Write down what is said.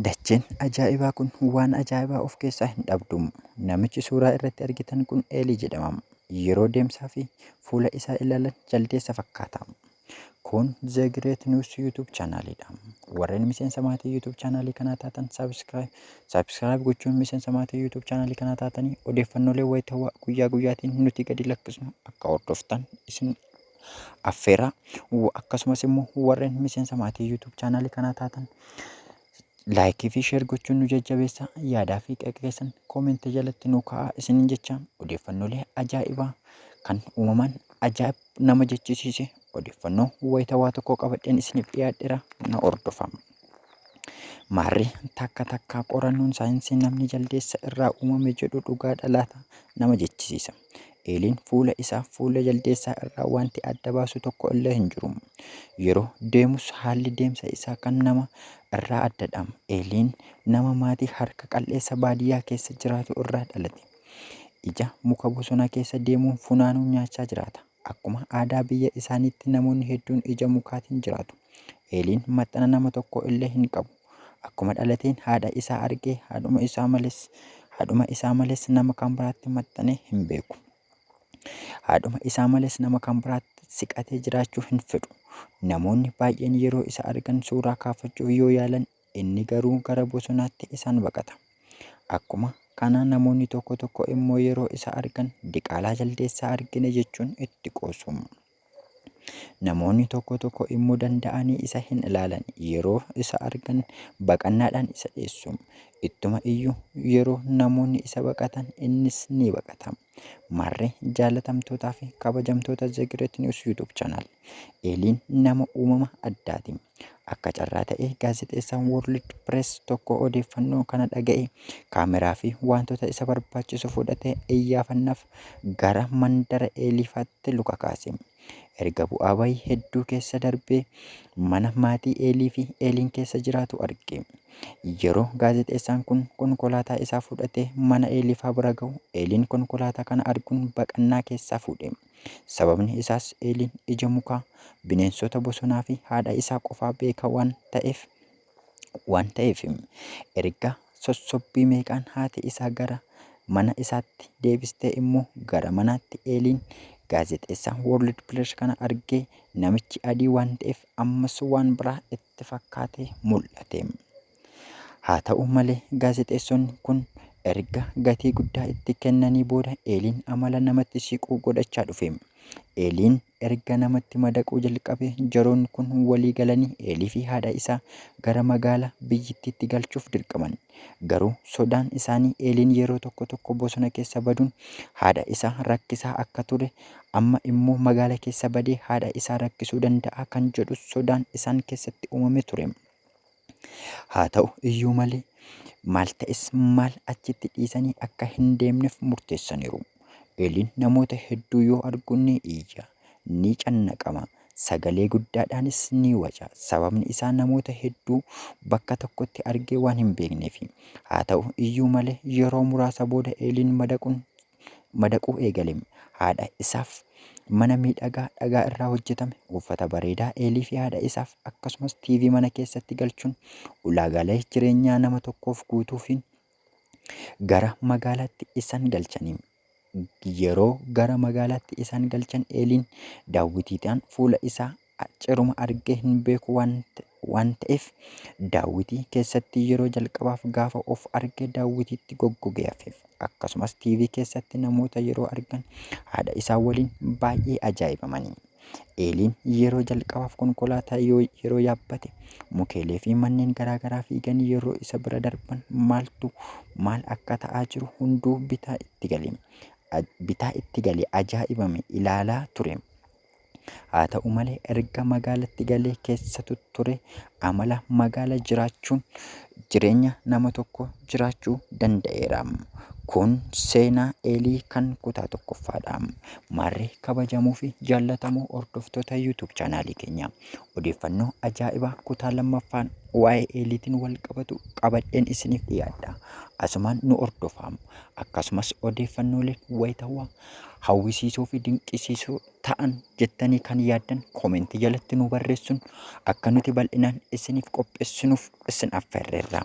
Dacheen ajaa'ibaa kun waan ajaa'ibaa of keessaa hin dhabdu. Namichi suuraa irratti argitan kun Eelii jedhama. Yeroo deemsaa fi fuula isaa ilaalan jaldeessa fakkaata. Kun The Great News YouTube chaanaaliidha. Warreen miseensa maatii YouTube chaanaalii kanaa taatan subscribe subscribe gochuun miseensa maatii YouTube chaanaalii kanaa taatanii odeeffannoolee wayitawaa guyyaa guyyaatiin nuti gadi lakkisnu akka hordoftan isin affeera. Akkasumas immoo warreen miseensa maatii YouTube chaanaalii kanaa taatan laayikii fi sheer gochuun nu jajjabeessa. Yaadaa fi qeeqa keessan koomentii jalatti nu kaa'aa isiniin jecha odeeffannoolee ajaa'ibaa kan uumamaan ajaa'ib nama jechisiise odeeffannoo wayitawaa tokko qabadheen isiniif dhiyaadheera na hordofama. Maarree, takka takkaa qorannoon saayinsii namni jaldeessa irraa uumame jedhu dhugaadha laata? nama jechisiisa. Eeliin fuula isaa fuula jaldeessaa irraa wanti adda baasu tokko illee hin jiru. Yeroo deemus haalli deemsa isaa kan nama irraa addadha. Eeliin nama maatii harka qal'eessa baadiyyaa keessa jiraatu irraa dhalate. Ija muka bosona keessa deemuun funaanuun nyaachaa jiraata. Akkuma aadaa biyya isaaniitti namoonni hedduun ija mukaatiin jiraatu. Eeliin maxxana nama tokko illee hin qabu. Akkuma dhalateen haadha isaa argee haadhuma isaa malees haadhuma isaa malees nama kan biraatti maxxanee hin beeku. Haadhuma isaa malees nama kan biraatti siqatee jiraachuu hin fedhu. Namoonni baay'een yeroo isa argan suuraa kaafachuuf yoo yaalan Inni garuu gara bosonaatti isaan baqata. Akkuma kana namoonni tokko tokko immoo yeroo isa argan diqaalaa jaldeessaa argine jechuun itti qoosu. Namoonni tokko tokko immoo danda'anii isa hin ilaalan yeroo isa argan baqannaadhaan isa dheessu. Ittuma iyyuu yeroo namoonni isa baqatan innis ni baqata. Marre jaalatamtootaa fi kabajamtoota The Great News YouTube channel. Eeliin nama uumama addaati. Akka carraa ta'e gaazexeessaan World Press tokko odeeffannoo kana dhaga'e kaameraa fi wantoota isa barbaachisu fudhatee iyyaafannaaf gara mandara Eeliifaatti luka kaase. Erga bu'aa bayii hedduu keessa darbee mana maatii Eelii fi Eeliin keessa jiraatu arge. Yeroo gaazexeessaan kun konkolaataa isaa fudhatee mana Eeliifaa bira ga'u Eeliin konkolaataa kana arguun baqannaa keessaa fuudhe. Sababni isaas Eeliin ija mukaa, bineensota bosonaa fi haadha isaa qofaa beeka waan ta'eef waan ta'eef erga sossobbii meeqaan haati isaa gara mana isaatti deebistee immoo gara manaatti Eeliin gaazexeessaa World Press kana argee namichi adii waan ta'eef ammas waan biraa itti fakkaatee mul'ate. Haa ta'u malee gaazexeessonni kun erga gatii guddaa itti kennanii booda Eeliin amala namatti siquu godhachaa dhufe. Eeliin Erga namatti madaquu jalqabee jaroonni kun walii galanii Eeliifi haadha isaa gara magaala biyyittiitti galchuuf dirqaman. Garuu sodaan isaanii Eeliin yeroo tokko tokko bosona keessa baduun haadha isaa rakkisaa akka ture, amma immoo magaala keessa badee haadha isaa rakkisuu danda'a kan jedhu sodaan isaan keessatti uumame ture. Haa ta'u iyyuu malee, maal ta'es maal achitti dhiisanii akka hin deemneef murteessaniiru. Eeliin namoota hedduu yoo argu ni iyya, ni cannaqama, sagalee guddaadhaanis ni waca, sababni isaa namoota hedduu bakka tokkotti argee waan hin beekneefi. Haa ta'u iyyuu malee, yeroo muraasa booda Eeliin madaquun madaquu eegale. Haadha isaaf mana miidhagaa dhagaa irraa hojjetame, uffata bareedaa Eelii fi haadha isaaf akkasumas TV mana keessatti galchuun ulaagaalee jireenyaa nama tokkoof guutuufiin gara magaalaatti isaan galchanii yeroo gara magaalaatti isaan galchan Eeliin daawwitiidhaan fuula isaa Ciruma argee hin beeku waan ta'eef daawwitii keessatti yeroo jalqabaaf gaafa of arge daawwitiitti goggogee hafeef. Akkasumas TV keessatti namoota yeroo argan haadha isaa waliin baay'ee ajaa'ibamanii. Eeliin yeroo jalqabaaf konkolaataa yoo yeroo yaabbate mukeelee fi manneen garaagaraa fiigan yeroo isa bira darban maaltu maal akka ta'aa jiru hunduu bitaa itti gale. Aj- Bitaa itti gale ajaa'ibame ilaalaa ture. Haa ta'u malee erga magaalatti galee keessa tutture amala magaala jiraachuun jireenya nama tokko jiraachuu danda'eera. Kun seenaa Eelii kan kutaa tokkoffaadha. Maarree kabajamuu fi jaallatamoo hordoftoota YouTube chaanaalii keenya. Odeeffannoo ajaa'ibaa kutaa lammaffaan waa'ee Eeliitiin wal qabatu qabadheen isiniif dhiyaadha. Asumaan nu hordofaam. Akkasumas odeeffannoolee wayitawaa hawwisiisoo fi dinqisiisoo ta'an jettanii kan yaaddan koomentii jalatti nu barreessuun akka nuti bal'inaan isiniif qopheessinuuf isin affeerreerra.